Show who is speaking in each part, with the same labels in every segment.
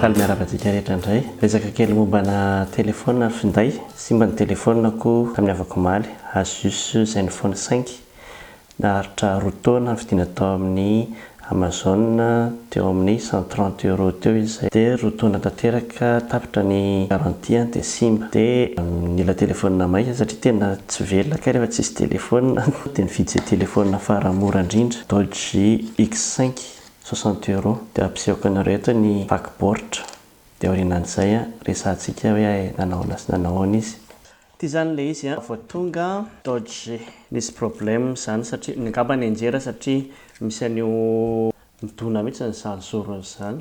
Speaker 1: Faly miarahaba antsika rehetra indray. Resaka kely mombana telefaonina finday. Simba ny telefaonako tamin'ny havako omaly, Asus Zenfone 5. Naharitra roa taona nividiana tao amin'ny Amazon teo amin'ny cent trente euros teo izy izay dia roa taona tanteraka. ka tapitra ny garantie dia simba dia nila telefonina maika satria tena tsy velona kay rehefa tsisy telefonina dia nividy izay telefonina fara mora indrindra Dodge X5 soixante euros dia ampisehoako anareo eto ny vaky baoritra dia aorianan'izay resahantsika hoe nanao ahoana sy nanao ahoana izy. Ity izany ilay izy vao tonga Dodge nisy problème izany satria ngamba nianjera satria misy an'io midona mihitsy izany zorony izany.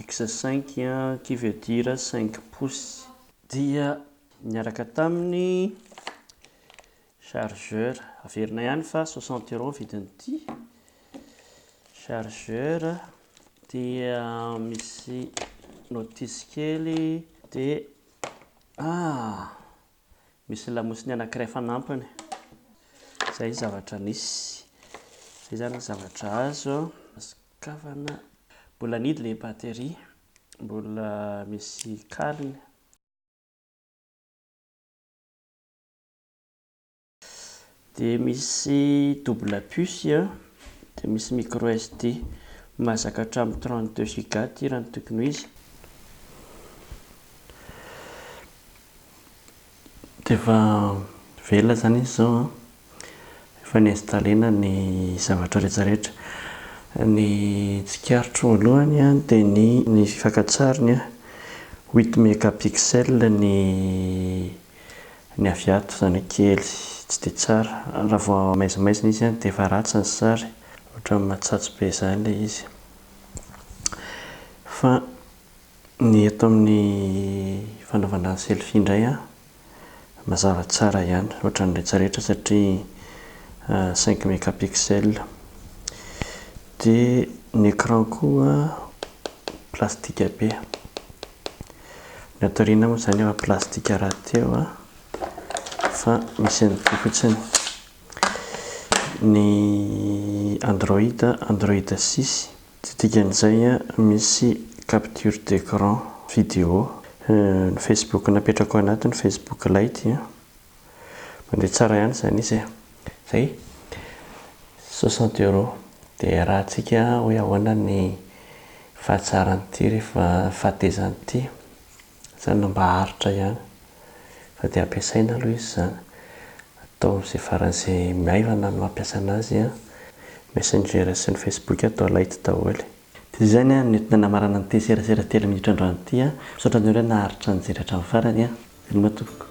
Speaker 1: X cinq qui veut dire cinq pouces. Dia niaraka taminy chargeur. Averina ihany fa soixante euros vidin'ity chargeur. Dia misy notice kely dia ah! Misy lamosiny anankiray fanampiny. Izay zavatra nisy. Izay izany ny zavatra azo. Kavana. Mbola nidy ilay batterie. Mbola misy kaliny. Dia misy double puce a. Dia misy micro SD. Mahazaka hatramin'ny 32 giga ity raha ny tokony ho izy. Dia efa velona izany izy izao an. Efa ni-installer-na ny zavatra rehetra rehetra. Ny tsikaritro voalohany dia ny ny fakantsariny, huit megapixels ny ny avy ato, izany hoe kely, tsy dia tsara. Raha vao maizimaizina izy dia efa ratsy ny sary, ohatran'ny matsatso be izany ilay izy. Fa ny eto amin'ny fanaovana selfie indray an, mazava tsara ihany ohatran'ny retraretra satria cinq megapixels. Dia ny écran koa plastika be. Ny ato aoriana moa izany efa plastika rahateo fa misy an'ity fotsiny. Ny Android, Android six. Tsy dikan'izay misy capture d'écran vidéo ny facebook napetrako anaty ny facebook lite a. Mandeha tsara ihany izany izy e. Izay, soixante euros. Dia iarahantsika hoe ahoana ny fahatsaran'ity rehefa, fahatezan'ity. Izany no mba aritra ihany fa dia ampiasaina aloha izy izany. Atao amin'izay faran'izay maivana no ampiasana azy an. Messenger sy ny Facebook atao light daholo. Dia izay ny ahy no entina namarana an'ity serasera telo minitra androany ity an. Misaotra anareo naharitra nijery hatramin'ny farany an. Veloma tompoko.